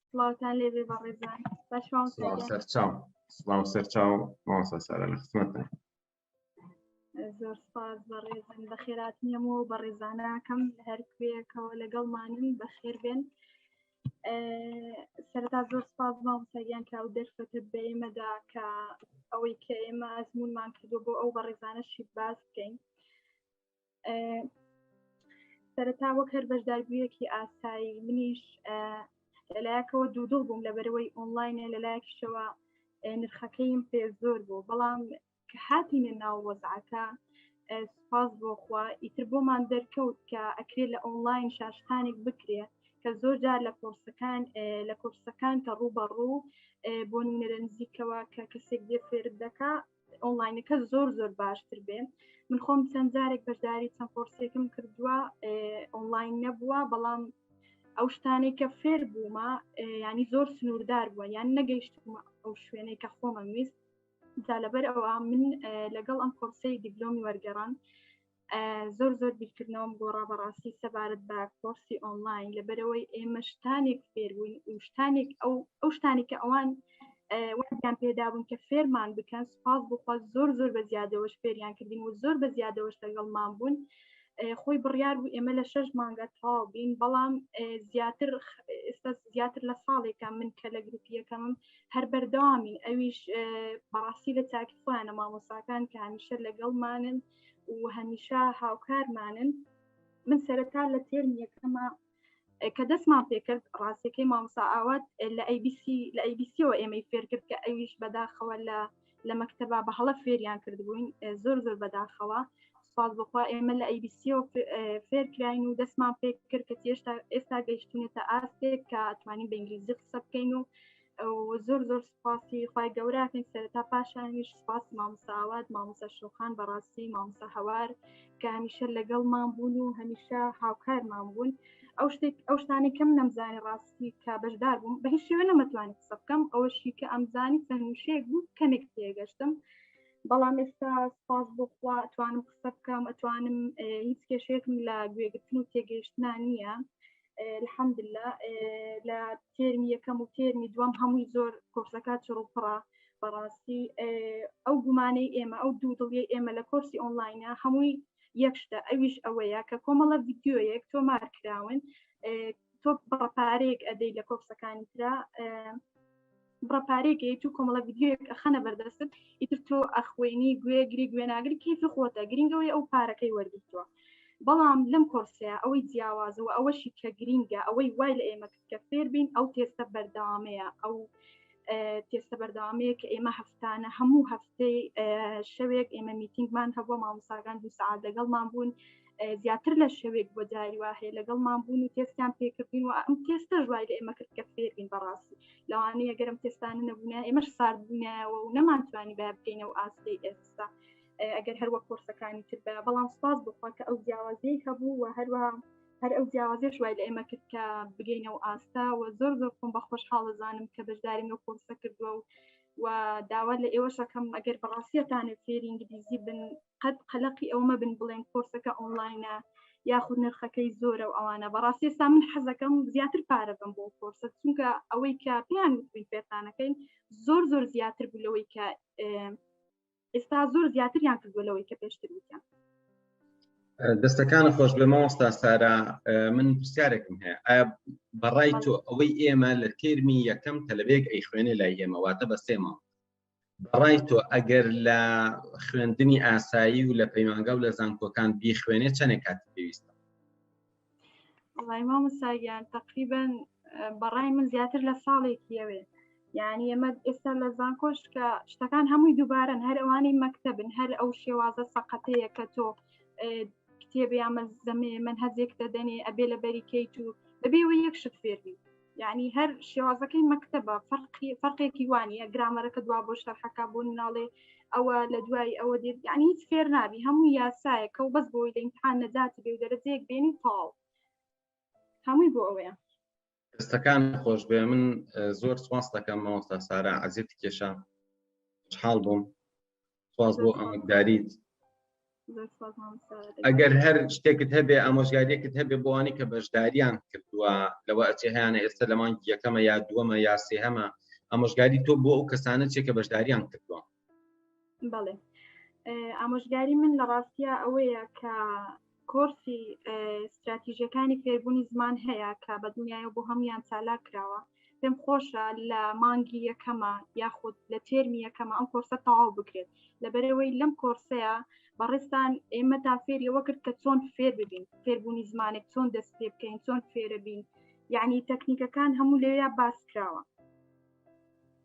سڵاوتان لێبێ بەڕێزان سەرچاو سڵاو سەرچاو ماوەسا سارە لە خزمەتە زۆر سپاس بەڕێزن بە خێراتنیەم و بە ڕێزانەکەم هەر کوێەکەەوە لەگەڵمانن بەخێر بێن سەرتا زۆر سپاس مامسەگیان کە ئەو دەرفەتە بە ئێمەدا کە ئەوەی کە ئێمە ئەزمونمان کردو بۆ ئەو بەڕێزانەشی باس بکەین سەرەتا وەک هەر بەشداربوویەکی ئاسایی منیش لەلایەکەوە دوودڵ بووم لە بەرەوەی ئۆنلاینە لەلایەکیشەوە نرخەکەیم پێ زۆر بوو بەڵام کە هاتینە ناو وەزعەکە سپاس بۆخوا ئیتر بۆمان دەرکەوت کە ئەکرێ لە ئۆنلاین شاشتانێک بکرێ کە زۆر جار لە کۆرسەکان لە کۆرسەکان کە ڕوو بە ڕوو بۆ نونەرە نزیکەوە کە کەسێک دێ فێرت دەکا ئۆنلاینەکە زۆر زۆر باشتر بێ من خۆم چەند جارێک بەشداری چەند کۆرسێکم کردووە ئۆنلاین نەبووە بەڵام ئەو شتانێک کە فێر بوومە ینی زۆر سنووردار بووە یان نەگەیشتمە ئەو شوێنەی کە خۆمە ویست جا لەبەر ئەوە من لەگەڵ ئەم کۆرسی دیبلۆمی وەرگەڕان زۆر زۆر بیرکردنەوەم گۆڕا بەڕاستی سەبارەت بە کۆرسی ئۆنلاین لەبەرەوەی ئێمە شتانێک فێربووین و شتانێک ئەو ئەو شتانی کە ئەوان وەیان پێدابوون کە فێرمان بکەن سپاس بخوا زۆر زۆر بە زیادەوەش فێریان کردین و زۆر بە زیادەوەش لەگەڵمان بوون خۆی بڕیار بوو ئێمە لە شەش مانگە تاو بین بەڵام زیاتر ئێستا زیاتر لە ساڵێکە من کە لە گروپیەکەمم هەر بەردەوامین ئەویش بەڕاستی لە تاکی خۆیانە مامۆساکان کە هەمیشە لەگەڵمانن و هەمیشە هاوکارمانن من سەرەتا لە تێرم یەکەمە کە دەستمان پێکرد ڕاستەکەی مامسا ئاوات لە ئەیBC لە ئەیBCەوە ئێمەی فێر کرد کە ئەویش بەداخەوە لە لە مەکتتەبا بە هەڵە فێریان کردبووین زۆر زۆر بەداخەوە سوپاس بخوا ئێمە لە ئەیBCەوە فێرکراین و دەستمان پێ کرد کە تێشتا ئێستا گەیشتونێتە ئاستێک کە توانین بە ئینگلیزی قسە بکەین و زۆر زۆر سپاسی خی گەوراکەین سەرتا پاشانیش سپاس مامساوات مامسا شوخان بەڕاستی مامسا هەوار کە هەمیشە لەگەڵمان بوون و هەمیشە هاوکارمان بوون ئەو شتێک ئەو شتانی کەم نەمزانانی ڕاستی کە بەشدار بووم بە هیچ شێوە نەمەتوانی قسە بکەم ئەوەشی کە ئەمزانی سەنووشەیەک بوو کەمێک تێگەشتم بەڵام ئێستا سپاس بۆخوا توانم قسە بکەم ئەتوانم هیچ کێشێکم لە گوێگرتن و تێگەیشتنا نییە الحەمدللا لە تێرمی یەکەم و تێرمی دووەم هەمووی زۆر کۆرسەکە چڕوپڕە بەڕاستی ئەو گومانەی ئێمە ئەو دوو دڵی ئێمە لە کۆرسی ئۆنلاینە هەمووی یەکشتە ئەویش ئەوەیە کە کۆمەڵە ڤیددیویەک تۆمار کراون تۆ بەڕپارێک ئەدەی لە کۆرسەکانی تررا بڕە پارەیەک یت و کۆمەڵە ویددیوەک ئەخەنە بەردەستت ئیتر تۆ ئەخوێنی گوێ گری گوێناگری کیفی خۆتە گرنگەوەی ئەو پارەکەی وەرگتووە بەڵام لەم کۆرسەیە ئەوەی جیاوازەوە ئەوەشی کە گرینگە ئەوەی وای لە ئێمە کە فێربین ئەو تێستە بەردەوامەیە ئەو تێستە بەردەوامەیە کە ئێمە هەفتانە هەموو هەفتەی شەوێک ئێمە میتینگمان هەبووە مامۆساگان دوو سعات لەگەڵمان بوون زیاتر لە شەوێک بۆ جاری وا هەیە لەگەڵ مابوون و تێستان پێکردین و ئەم تێستە ژوای لە ئێمە کرد کە فێرین بەڕاستی لەوانەیە گەرم تێستانە نەبوونە ئێمەش ساردبوونایەوە و نەمانتوانی با بکەینە و ئاستی ئێستا ئەگەر هەروە کۆرسەکانی تر بە بەڵام سپاس بخوا کە ئەو جیاوازی هەبوو و هەروە هەر ئەو جیاوازێش وای لە ئێمە کرد کە بگەینە و ئاستا و زۆر زۆر خۆم بە خۆشحاڵەزانم کە بەشداریم لە کۆرسە کردووە و و داوا لە ئێوەشەکەم ئەگەر بەڕاستیەتانێت فێرینگلیزی بن قەت قەلەقی ئەوە مەبن بڵێن کۆرسەکە ئۆنلاینە یاخود نرخەکەی زۆرە و ئەوانە بەڕاستی ئێستا من حەزەکەم زیاتر پارە بم بۆ کۆرسە چونکە ئەوەی کە پێیان وتبین فێرخانەکەین زۆر زۆر زیاتر بوو لەوەی کە ئێستا زۆر زیاتریان کردووە لەوەی کە پێشتر وتیان دەستەکان خۆش بێ مامۆستا سارا من پرسیارێکم هەیە ئایا بەڕای تۆ ئەوەی ئێمە لە تێرمی یەکەم تەلبێک ئەی خوێنێ لای ئێمە واتە بە سێمە بەڕای تۆ ئەگەر لە خوێندنی ئاسایی و لە پەیمانگە و لە زانکۆکان بیخوێنێ چەندێک کات پێویستە مامەساگیان تقریبان بەڕای من زیاتر لە ساڵێکی ئەوێ یعنی ئەمە ئێستا لە زانکۆش کە شتەکان هەمووی دووبارن هەر ئەوانی مەکتتەبن هەر ئەو شێوازە سەقەتەیە کە تۆ کتێبی ئامە زەمێ من هەزێک دەدەنێ ئەبێ لە بەریکەیت و بەبێەوە یەک شت فێربی یعنی هەر شێوازەکەی مەکتتەبە فەرقی فەرقێکی وانە گرامەرەکە دوا بۆ شەرحەکە بۆ ناڵێ ئەوە لە دوای ئەوە دێت یعنی هیچ فێر نابی هەموو یاسایەکە و بەس بۆی لە امتحان نەجات بێ و دەرەجەیەک بێنی تاڵ هەمووی بۆ ئەوەیە دەستەکان خۆش بێ من زۆر سپاس دەکەم مامۆستا سارا عزیێتی کێشە حاڵ بووم سواز بۆ ئەمەکداریت ئەگەر هەر شتێکت هەبێ ئامۆژگاریەکت هەبێ بۆوانی کە بەشداریان کردووە لەوە ئەچێ هەیەە ئێستا لە مانگی یەکەمە یا دووەمە یا سێهەمە ئامۆژگاری تۆ بۆ ئەو کەسانە چێ کە بەشداریان کردووە بەڵێ ئامۆژگاری من لە ڕاستە ئەوەیە کە کۆرسی ستراتیژەکانی فێربوونی زمان هەیە کە بە دنیای بۆ هەمویان چالا کراوە پێم خۆشە لە مانگی یەکەمە یاخود لە تێرمی یەکەمە ئەم کۆرسە تەواو بکرێت لەبەرەوەی لەم کۆرسەیە بەڕێستان ئێمە تا فێریەوە کرد کە چۆن فێر ببین فێربوونی زمانێک چۆن دەست پێ بکەین چۆن فێرە بین یعنی تەکنیکەکان هەموو لێیا باس کراوە